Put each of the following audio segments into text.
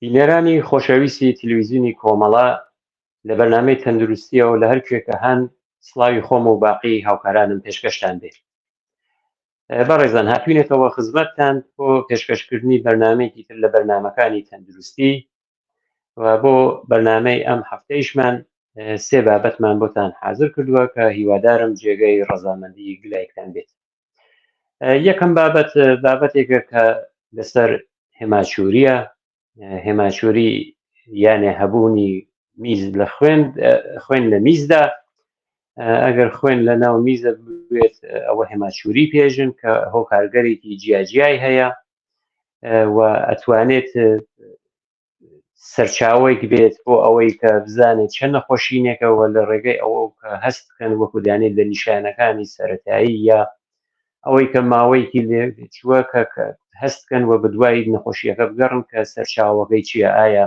بینەرانی خۆشەویستی تلویزیونی کۆمەڵە لە بەرنامەی تەندروستیەوە لە هەر کوێکە هەن سڵاوی خۆم و باقی هاوکارانم پێشکەشتان بێت بەڕێزان هاتوینێتەوە خزمەتتان بۆ پێشکەشکردنی بەرنمەیەکی تر لە بەرنمەکانی تەندروستی و بۆ بەرنمەی ئەم هەفتەیشمان سێ بابەتمان بۆتان حاضر کردووە کە هیوادارم جێگەی ڕەزامەندی گلایکتان بێت یەکەم بابەت بابەتێکە کە لەسەر هێماچوریە هێماچوری یانێ هەبوونی میز لە خوێن خوێن لە میزدا ئەگەر خوێن لە ناو میزە بێت ئەوە هێماچوری پێژن کە هۆکارگەرێکی جیاجیای هەیە و ئەتوانێت سەرچاوەیەک بێت بۆ ئەوەی کە بزانێت چەند نەخۆشینێکەوە لە ڕێگەی ئەوە کە هەست بکەن وەکو دانێت لە نیشانەکانی سەتایی یا ئەوەی کە ماوەیەکی لێ چووە کە هەستکەن و بەدوای نەخۆشیەکە بگەڕن کە سەرچاوەکەی چییە ئایا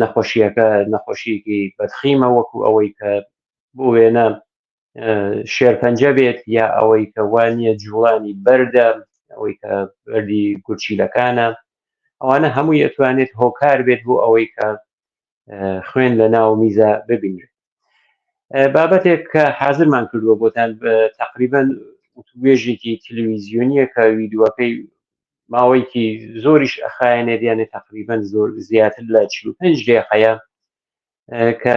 نەخۆشیەکە نەخۆشیەکی بەدخیمە وەکو ئەوەی کە بۆ وێنە شێرپەنجە بێت یا ئەوەی کە وانە جوڵانی بەردە ئەوەی کە بەردی گورچیلەکانە ئەوانە هەموو یەتوانێت هۆکار بێت بۆ ئەوەی کە خوێن لە ناو میزە ببینرێت بابەتێک کە حازرمان کردووە بۆتان تقریبان وتوێژێکی تلویزیۆنیە کە ویددیوەکەی ماوەیەکی زۆریش ئەخایەنێت یانێ تقریبان زۆر زیاتر لە 45 دقیقەیە کە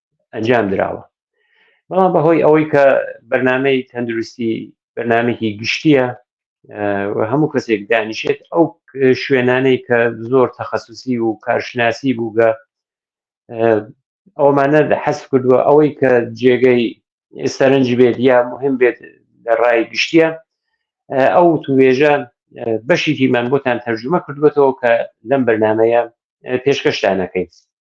ئەنجام دراوە بەڵام بەهۆی ئەوەی کە بەرنمەی تەندروستی بەرنمێکی گشتیە هەموو کەسێک دانیشێت ئەو شوێنانەی کە زۆر تەخصصی و کارشناسی بووگە ئەومانە حەس کردووە ئەوەی کە جێگەی سەرنج بێت یا مهم بێت لە ڕای گشتیە ئەو توێژە بەشێکیمان بۆتان تەرجمە کردوێتەوە کە لەم بەرنمەیە پێشکەشتانەکەیت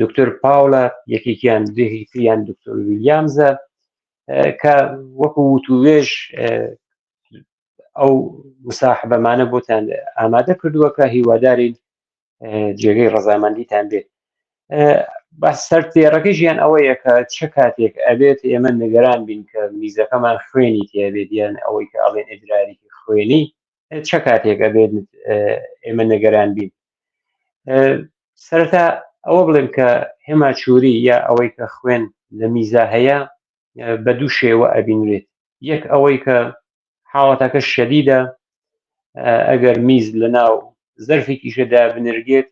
دکتۆر پاولە یەکێکیان دهیتیان دکتۆر ویلیامزە کە وەکو وتوێژ ئەو مساحبەمانە بۆتان ئامادە کردووە کە هیوادارین جێگەی ڕزامەندیتان بێت بە سەر تێڕەکەی ژیان ئەوەیە کە چ کاتێک ئەبێت ئێمە نگەران بین کە میزەکەمان خوێنی تێبێت یان ئەوەی کە ئەڵێن ئەدراریکی خوێنی چە کاتێک ئەبێت ئێمە نەگەران بین سەرەتا ئەوە بڵێم کە هێماچووری یا ئەوەی کە خوێن لە میزا هەیە بە دوو شێوە ئەبینرێت یەک ئەوەی کە حاڵەتەکە شەدیدە ئەگەر میز لە ناو زەرفی کیشەدا بنرگێت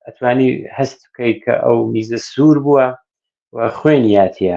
ئەتوانی هەست بکەیت کە ئەو میزە سوور بووە و خوێنیاتە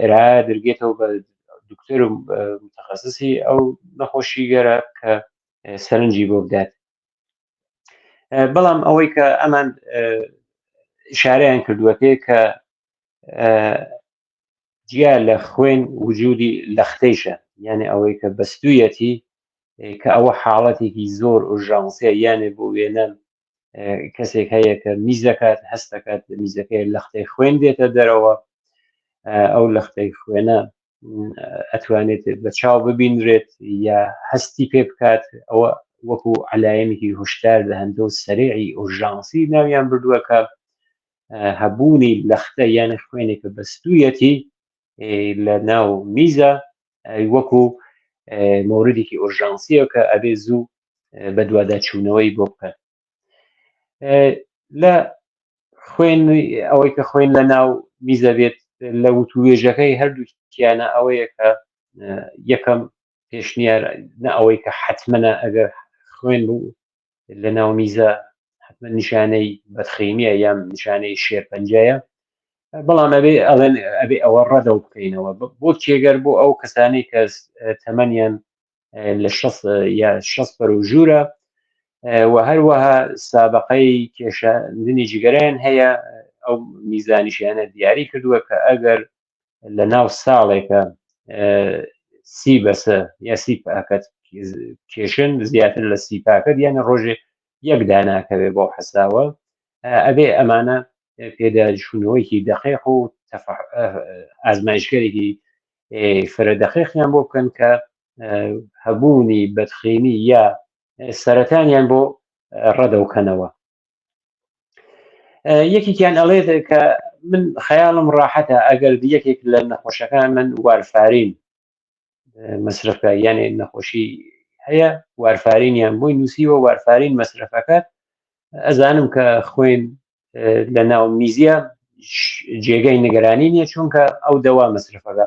ئێرە درگێتەوە بە دکتۆر و متخصصی ئەو نەخۆشی گەرە کە سەرنجی بۆ بدات بەڵام ئەوەی کە ئەمان شارەیان کردووە پێ کە جیا لە خوێن وجودی لەختەیشە یانێ ئەوەی کە بەستویەتی کە ئەوە حاڵەتێکی زۆر ئۆژانسیە یانێ بۆ وێنەن کەسێک هەیە کە میز دەکات هەست دەکات میزەکەی لەختەی خوێن دێتە دەرەوە ئەو لەختەی خوێنە ئەتوانێت بە چاو ببینرێت یا هەستی پێ بکات ئەوە وەکو علاەنێکی هوشدار دەهندە و سەرێعی ئۆژانسی ناویان بردووە کە هەبوونی لەختە یان خوێنێکە بەستویەتی لە ناو میزە وەکو مۆردێکی ئۆرژانسیە کە ئەبێ زوو بە دوواداچوونەوەی بۆ بکەن لە خوێن ئەوەی کە خوێن لە ناو میزە بێت لە وتوێژەکەی هەردووکیانە ئەوەیە کە یەکەم پێشنیار نە ئەوەی کە حتممەە ئەگەر خوێن بوو لە ناو میزە حتممە نیشانەی بەدخینیە یان نیشانەی شێرپەنجەیە بەڵام ئەبێ ئەڵێن ئەبێ ئەوە ڕەدە و بکەینەوە بۆ کێگەر بۆ ئەو کەسانی کە تەمەنیان لە یا شەس پەر و ژوورە و هەروەها سابقەی کێشاندنی جگەرەیان هەیە ئەو میزانیشیانە دیاری کردووە کە ئەگەر لە ناو ساڵێکە سی بەسە یا سی پاکەت کێشن زیاتر لە سی پاکەت یانە ڕۆژێ یەک داناکەوێ بۆ حەساوە ئەبێ ئەمانە پێداچوونەوەیکی دەقیق و ئازمایشگەرێکی فرە دەقیقیان بۆ بکەن کە هەبوونی بەدخینی یا سەرەتانیان بۆ ڕەدەوکەنەوە یەکێکیان ئەڵێت کە من خەیاڵم ڕاحەتە ئەگەر یەکێک لە نەخۆشەکان من وارفارین مەسرفکە یانێ نەخۆشی هەیە وارفارینیان بۆی نووسیوە وارفارین مەسرفەکە ئەزانم کە خوێن لە ناو میزیە جێگەی نیگەرانی نیە چونکە ئەو دەوا مەسرفەکە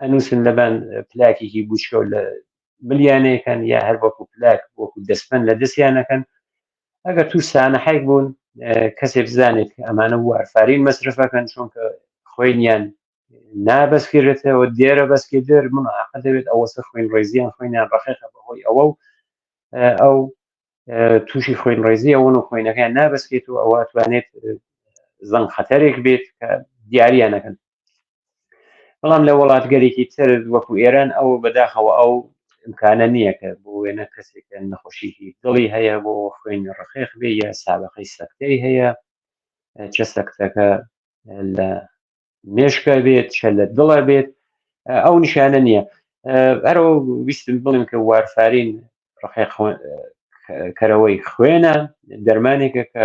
ئەنووسن لەبان پلاکێکی گوچکەوە لە ملیانەیەکەن یا هەر وەکو پلاک وەکو دەستمەند لە دەستیانەکەن ئەگەر توش سانە حیک بوون کەسێ بزانێت ئەمانە وارفارین مەسرفەکەن چونکە خوێنیان نابەسکرێتەوە دێرە بەسکی دەر من عقە دەبێت ئەوەسە خوێن ڕێزیان خوێنیان ڕخێکە بەهۆی ئەوە و ئەو تووشی خوێن ڕێزی ئەوەن و خوێنەکەیان نابەسکێت و ئەوە توانێت زەنگ خەتەرێک بێت کە دیاریانەکەن بەڵام لە وڵاتگەرێکی تر وەکو ئێران ئەو بەداخەوە ئەو امکانە نییە کە بۆ وێنە کەسێکە نەخۆشیی دڵی هەیە بۆ خوێنی ڕخێخ بێ یا سابقەی سەکتەی هەیە چە سەکتەکە لە مێشکە بێت چە لە دڵە بێت ئەو نیشانە نییە ئەرەوە ویستم بڵێم کە وارفارین ڕخێ کەرەوەی خوێنە دەرمانێکە کە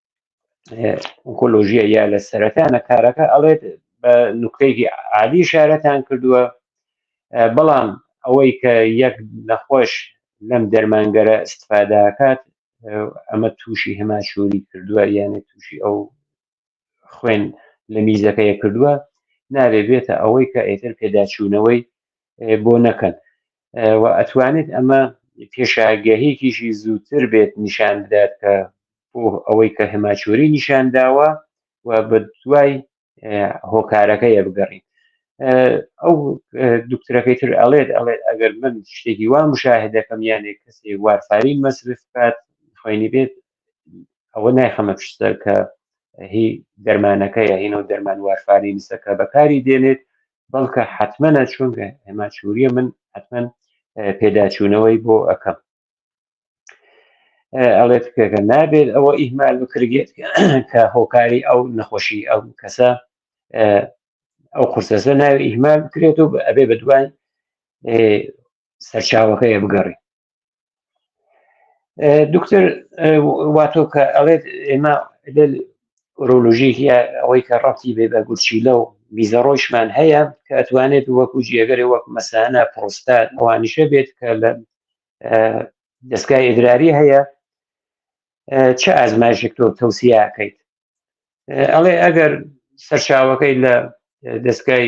ئۆکۆلۆژیە یا لە سەرەتانە کارەکە ئەڵێت بە نوکتەیەکی عادی شارەتان کردووە بەڵام ئەوەی کە یەک نەخۆش لەم دەرمانگەرە استفاداکات ئەمە تووشی هەماشوری کردووە یانە تووشی ئەو خوێن لە میزەکەیە کردووە نابێ بێتە ئەوەی کە ئێتر پێداچوونەوەی بۆ نەکەن و ئەتوانێت ئەمە پێشاگەهێکیشی زووتر بێت نیشان بدات کە بۆ ئەوەی کە هەماچۆری نیشان داوە و بە دوای هۆکارەکە یە بگەڕین ئەو دکترەکەی تر ئەڵێت ئەڵێت ئەگەر من شتێکی وا مشاهدەکەم یانێک کەسێ وارفارین مەسرف بات خوێنی بێت ئەوە نایخەمە پشتەر کە هی دەرمانەکە یا هینەوە دەرمان وارفارینسەکە بەکاری دێنێت بەڵکە حتممەە چونگە ئەماچوریە من حتممە پێداچوونەوەی بۆ ئەەکەم ئەڵێت پێگە نابێت ئەوە ئیهمال بکرگێت کە هۆکاری ئەو نەخۆشی ئەو کەسە ئەو قرسەسە ناوی ئیهمال بکرێت و ئەبێ بە دوای سەرچاوەکەی بگەڕی دکتر واتۆ کە ئەڵێت ئێمە ئۆرۆلۆژیکی ئەوەی کە ڕەتی بێ بە گورچیلە و بیزەڕۆیشمان هەیە کە ئەتوانێت وەکو جێگەری وەک مەسانە پرۆستات ئەوانیشە بێت کە لە دەستگای ئیدراری هەیە چه ئازمایشێک تۆ تەوسیاکەیت ئەڵێ ئەگەر سەرچاوەکەی لە دەستگای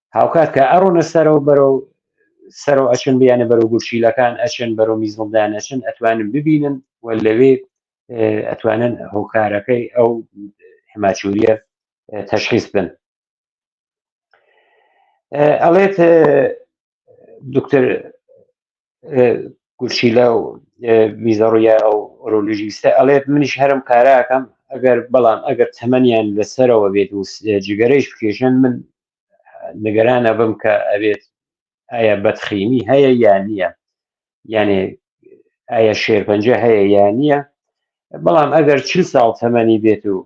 هاوکات کە ئەڕۆنە سەرەوە بەرەو سەرۆ ئەچن بیانە بەرەو گورچیلەکان ئەچن بەرەو میزڵدان ئەچن ئەتوانن ببینن و لەوێ ئەتوانن هۆکارەکەی ئەو حماچوریە تەشخیص بن ئەڵێت دکتر گورچیلا و میزە ڕویا ئەو ئۆرۆلژیستە ئەڵێت منیش هەرم کاراکەم ئەگەر بەڵام ئەگەر تەمەنیان لەسەرەوە بێت و جگەرەیش بکێشن من نگەرانە بم کە ئەبێت ئایا بەتخینی هەیە یان نییە یانێ ئایا شێرپەنجە هەیە یان نییە بەڵام ئەگەر چ ساڵ تەمەنی بێت و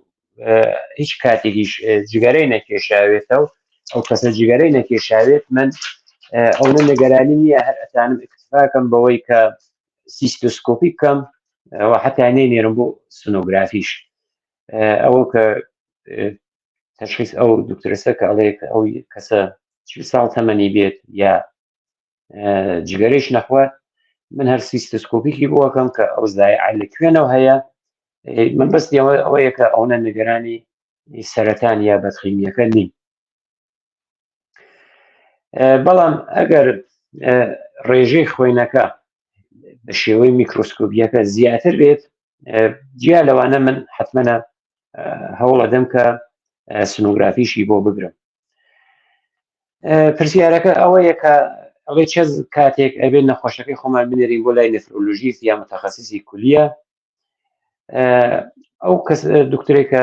هیچ کاتێکیش جگەرەی نەکێشاوێتە و ئەو کەسە جگەرەی نەکێشاوێت من ئەو من نگەرانی نییە هەر ئەتانم اکتفاکەم بەوەی کە سیستۆسکۆپی بکەم ئەوە حتا نێنێرم بۆ سنۆگرافیش ئەوە کە تشخیص ئەو دکتۆرسە کە ئەڵێ ئەو کەسە چ ساڵ تەمەنی بێت یا جگەرەش نەخوات من هەر سیستسکۆپیکی بۆکەم کە ئەو زایع لە کوێنەوە هەیە من بەست ئەوە ئەوەیە کە ئەوە نگەرانی سەرەتان یا بەتخیمیەکە نین بەڵام ئەگەر ڕێژەی خوێنەکە بە شێوەی میکرۆسکۆبیەکە زیاتر بێت جیا لەوانە من حتممەە هەوڵە دەم کە سنوگرافیشی بۆ بگرم پرسیارەکە ئەوەیە کە ئەڵێ چ کاتێک ئەبێت نەخۆشەکەی خۆمان بنێرین بۆ لای نفرۆلژیس یا متخصصی کولیە ئەو کەس دکتۆرێکە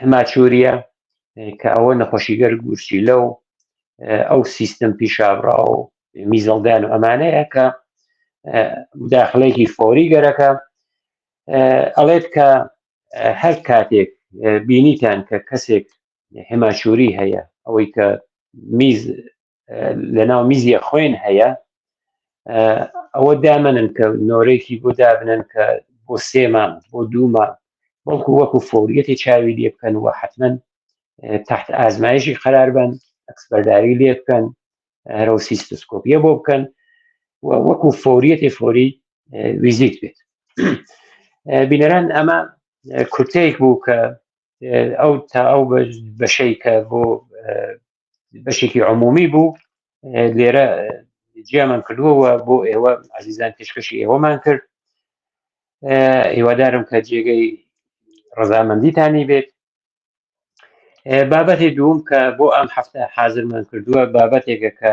هەماچوریە کە ئەوە نەخۆشیگەر گورچی لەو ئەو سیستم پیشابرا و میزەڵدان و ئەمانەیە کە داخلێکی فۆری گەرەکە ئەڵێت کە هەر کاتێک بینیتان کە کەسێک هەماچوری هەیە ئەوەی کە میز لەناو میزیە خوێن هەیە ئەوە دامەنن کە نۆرێکی بۆ دابنن کە بۆ سێمان بۆ دوومان بەڵکو وەکو فۆریەتی چاوی لێ بکەن و حتمما تحت ئازمایشی قرار بن ئەکسبەرداری لێ بکەن هەرو سیستسکۆپیە بۆ بکەن وەکو فۆریەتی فۆری ویزیت بێت بینەران ئەمە کورتەیەک بوو کە ئەو تا ئەو بەشەی کە بۆ بەشێکی عمومی بوو لێرە جیامان کردووەوە بۆ ئێوە عزیزان پێشکەشی ئێوەمان کرد هیوادارم کە جێگەی ڕزامەندیتانی بێت بابەتی دووم کە بۆ ئەم هەفتە حازرمان کردووە بابەتێکە کە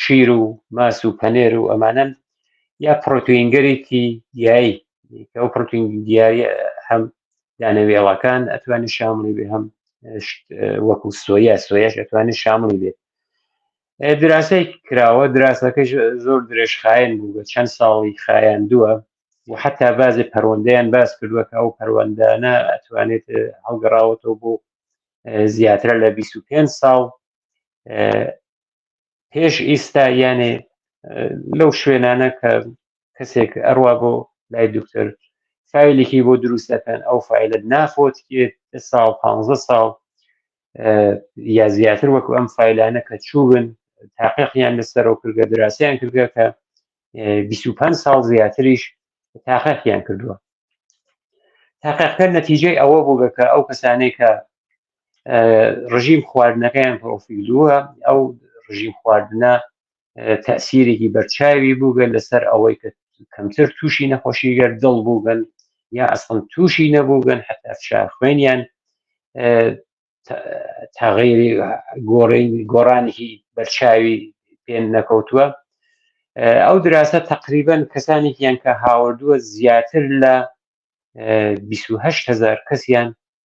شیر و ماس و پەنێر و ئەمانەن یا پرۆتوینگەرێکی گیایی ئەو پرۆتین دیاری هەم دانەوێڵەکان ئەتوانی شاملی بێ هەم وەکو سۆیا سۆیاش ئەتوانی شاملی بێت دراسەی کراوە دراسەکە زۆر درێژخایەن بوو بە چەند ساڵی خایەن دووە و حتا بازی پەروەندەیان باس کردووە کە ئەو پەروەندانە ئەتوانێت هەڵگەڕاوەتەوە بۆ زیاترە لە 25 ساڵ پێش ئیستا یانێ لەو شوێنانە کە کەسێک ئەروا بۆ لای دکتۆر فیلێکی بۆ دروست دەکەن ئەو فیلت نافۆت ساڵ پ ساڵ یا زیاتر وەکو ئەم فیلانە کە چوون تاقیقیان لەسەرەوە کردگە دراسیان کردگە کە 25 ساڵ زیاتریش تاقیقیان کردووە تاقیقکە نەتیجەی ئەوە بووگە کە ئەو کەسانەی کە ڕژیم خواردنەکەیان پرۆفیلووە ئەو ڕژیم خواردنە تەسیرێکی بەرچاوی بووگەن لەسەر ئەوەی کە کەمتر تووشی نەخۆشی گەر دڵ بووگەن یا ئەسڵم تووشی نەبووگەن حتا فشار خوێنیان تاغیری گۆڕین گۆڕانێکی بەرچاوی پێن نەکەوتووە ئەو دراسە تقریبن کەسانێکیان کە هاوردووە زیاتر لە 28هزار کەسیان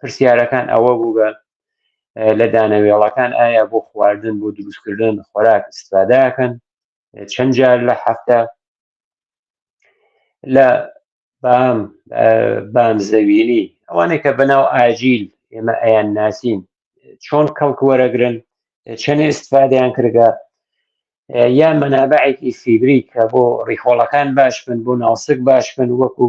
پرسیارەکان ئەوە بوو بە لە دانەوێڵەکان ئایا بۆ خواردن بۆ دروستکردن خۆراک استفادەکەن چەند جار لە هەفتە لە بام بام زەویلی ئەوانەی کە بەناو ئاجیل ئێمە ئەیان ناسین چۆن کەڵک وەرەگرن چەند استفادەیان کردگە یا مەنابعێکی فیبری کە بۆ ڕیخۆڵەکان باش بن بۆ ناوسک باش بن وەکو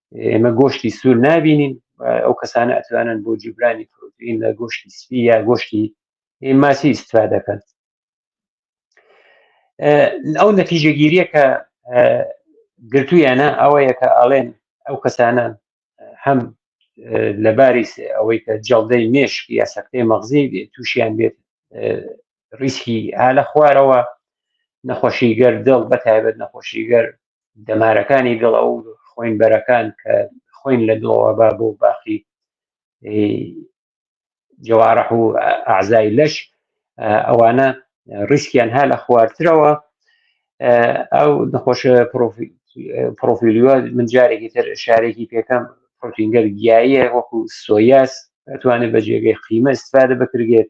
ئێمە گۆشتی سوور نبینین ئەو کەسانە ئەتوانن بۆ جیبرانی پرۆتین لە گۆشتی سپی یا گۆشتی ماسی ئیسفا دەکەن ئەو نەتیجەگیریە کە گرتوویانە ئەوەیە کە ئاڵێن ئەو کەسانە هەم لەباری ئەوەی کە جەڵدەی مێشک یا سەختەی مەغزی تووشیان بێت ریسکی ها لە خوارەوە نەخۆشی گەر دڵ بە تایبەت نەخۆشی گەر دەمارەکانی دڵ ئەو خوین بەرەکان کە خوین لە دڵەوە با بۆ باقی جوارح و ئازای لەش ئەوانە ریسکیان ها لە خوارترەوە ئەو نەخۆش پرۆفیلیوە من جارێکی تر شارێکی پێکەم پرۆتینگەر گیاییە وەکو سۆیاس ئەتوانێت بە جێگەی قیمە استفادە بکرێت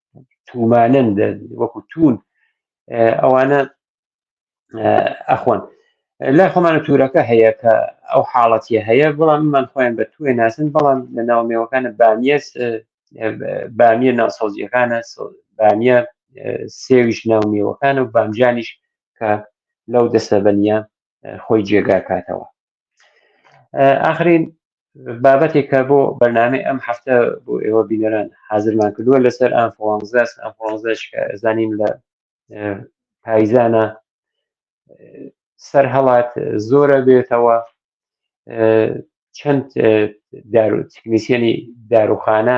تومانن وەکو تون ئەوانە ئەخۆن لای خۆمانە تورەکە هەیە کە ئەو حاڵەتی هەیە بەڵام من خۆیان بە توێ ناسن بەڵام لە ناومێوەکانە بامیەس بامیە ناسەوزیەکانە بامیە سێویش ناومێوەکانە و بامجانیش کە لەو دەسەبەنیە خۆی جێگاکاتەوە ئاخرین بابەتێک کە بۆ بەرنامەی ئەم هەفتە بۆ ئێوە بینەران حازرمان کردووە لەسەر ئەفۆزاس ئەفۆزش زانین لە پایزانە سەر هەڵات زۆرە بێتەوە چەند دارو تکنیسیەنی داروخانە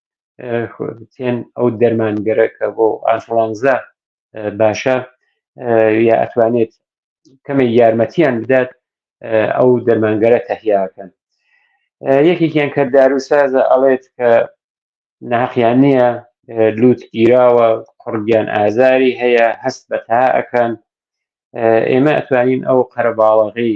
تێن ئەو دەرمانگەرە کە بۆ ئانفلانزا باشە یا ئەتوانێت کەمێک یارمەتیان بدات ئەو دەرمانگەرە تەهیاکەن یەکێکیان کە داروسازە ئەڵێت کە ناقیان نییە لووت گیراوە قڕگیان ئازاری هەیە هەست بە تا ئەکەن ئێمە ئەتوانین ئەو قەرەباڵەغی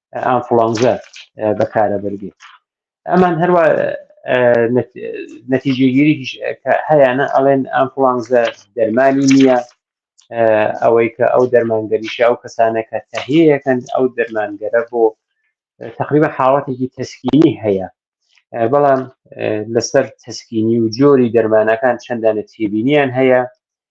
ئانفلانزە بەکارە بەرگێ ئەمان هەروە نەتیجێگیری هەیەە ئەڵێن ئەمفلانزە دەرمانی نییە ئەوەی کە ئەو دەرمانگەریشە ئەو کەسانە کە تەهەیەکەن ئەو دەرمانگەرە بۆ تقریبا حاڵەتێکی تەسکینی هەیە بەڵام لەسەر تەسکینی و جۆری دەرمانەکان چەندانە تێبینیان هەیە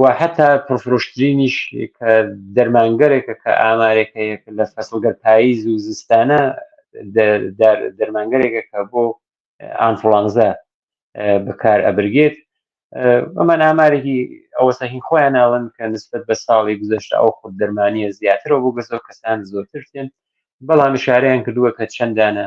و هەتا پرفرۆشترینیش کە دەرمانگەرێکە کە ئامارێکە یەک لە فەسڵگەر پاییز و زستانە دەرمانگەرێکە کە بۆ ئانفلانزا بەکار ئەبرگێت ئەمان ئامارێکی ئەوەسە هین خۆیان ناون کە نسبت بە ساڵی گوزەشت ئەو خود دەرمانە زیاترەوە بۆ گەزۆ کەسان زۆرترێن بەڵام شارەیان کردووە کە چەندانە